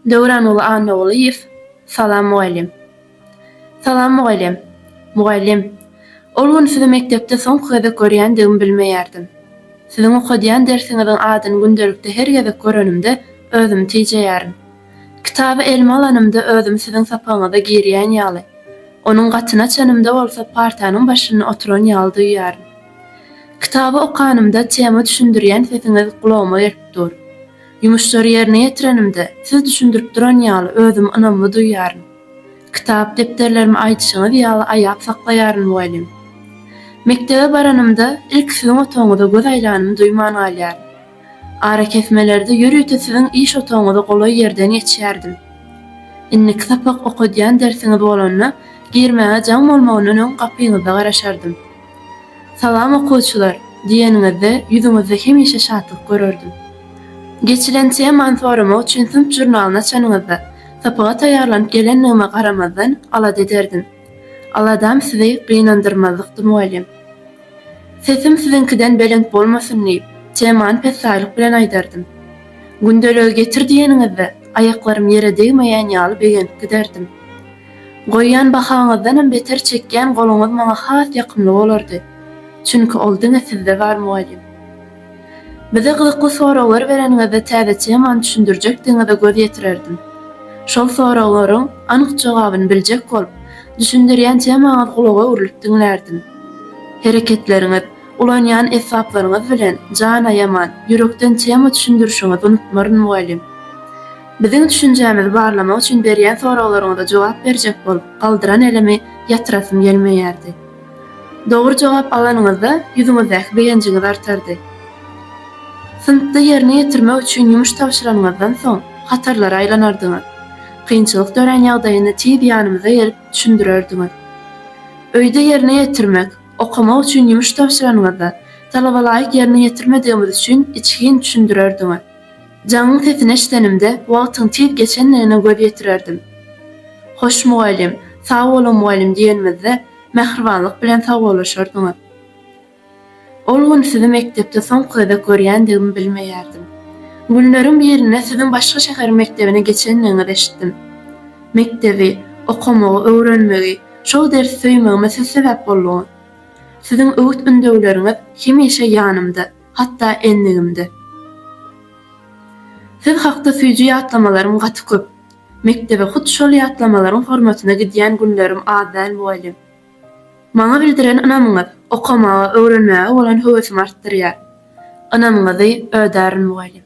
Döwranguly Annagulyýew, Salam mugallym! Salam mugallym! Mugallym, ol gün sizi mekdepde soňky gezek görýändigimi bilmeýärdim. Siziň okadýan dersiňiziň adyny gündelikde her gezek görenimde özümi tijeýärin. Kitaby elime alanymda özümi siziň sapagyňyza girýän ýaly, onuň gatyny açanymda bolsa partanyň başynda oturan ýaly duýýaryn. Kitaby okanymda tema düşündirýän sesiňiz gulagyma gelip dur. Ýumuşlary ýerine ýetirenimde, siz düşündirip duran ýaly özümi ynamly duýýaryn. Kitap-depderlerimi aýdyşyňyz ýaly aýap saklaýaryn mugallym. Mekdebe baranymda, ilki siziň otagyňyza göz aýlanymy duýman galýaryn. Arakesmelerde ýörite siziň iş otagyňyza golaý ýerden geçýärdim. Indiki sapak okadýan dersiňiz bolanda, girmäge jaň bolmagyndan öň gapyňyzda garaşardym. Salam okuwçylar! diýeniňizde ýüzüňizde hemişe şatlyk görerdim. Geçilen temany soramak üçin synp žurnalyny açanyňyzda, sapaga taýýarlanyp gelendigime garamazdan alada ederdim. Aladam sizi gynandyrmazlykdy mugallym. Sesim siziňkiden belent bolmasyn diýip, temany pessaýlyk bilen aýdardym. Gündeligi getir diýeniňizde, aýaklarym ýere degmeýän ýaly begenip giderdim. Goýýan bahaňyzdanam beter çekýän goluňyz maňa has ýakymly bolardy. Çünki ol diňe sizde bar mugallym. Bize gyzykly soraglar bereniňizde täze temany düşündirjekdigiňize göz ýetirerdim. Şol soraglaryň anyk jogabyny biljek bolup, düşündirýän temaňyz gulaga öwrülip diňlärdim. Hereketleriňiz, ulanýan esbaplaryňyz bilen jan aýaman, ýürekden tema düşündirişiňizi unutmaryn mugallym. Biziň düşünjämizi barlamak üçin berýän soraglaryňyza jogap berjek bolup, galdyran elimi ýatyrasym gelmeýärdi. Dogry jogap alanyňyzda, ýüzüňizdäki begenjiňiz artardy. Synpda ýerine ýetirmek üçin ýumuş tabşyranyňyzdan soň, hatarlara aýlanardyňyz. Kynçylyk dörän ýagdaýyny tiz ýanymyza gelip, düşündirerdiňiz. Öýde ýerine ýetirmek, okamak üçin ýumuş tabşyranyňyzda, talabalaýyk ýerine ýetirmedigimiz üçin içgin düşündirerdiňiz. Jaňyň sesini eşidenimde wagtyň tiz geçendigine göz ýetirerdim. Hoş mugallym, sag boluň mugallym diýenimizde mähribanlyk bilen sawollaşardyňyz. Ol gün sizi mekdepde soňky gezek görýändigimi bilmeýärdim. Günleriň birinde siziň başga şäheriň mekdebine geçendigiňizi eşitdim. Mekdebi, okamagy, öwrenmegi, şol dersi söýmegime siz sebäp bolduňyz. Siziň öwüt-ündewleriňiz hemişe ýanymda. hatda endigimde. Siz hakda süýji ýatlamalarym gaty köp. Mekdebe hut şol ýatlamalaryň hormatyna gidýän günlerim az däl mugallym. Maňa bildiren ynamyňyz okamaga, öwrenmäge bolan höwesim artdyrýar. Ynamyňyzy ödärin mugallym.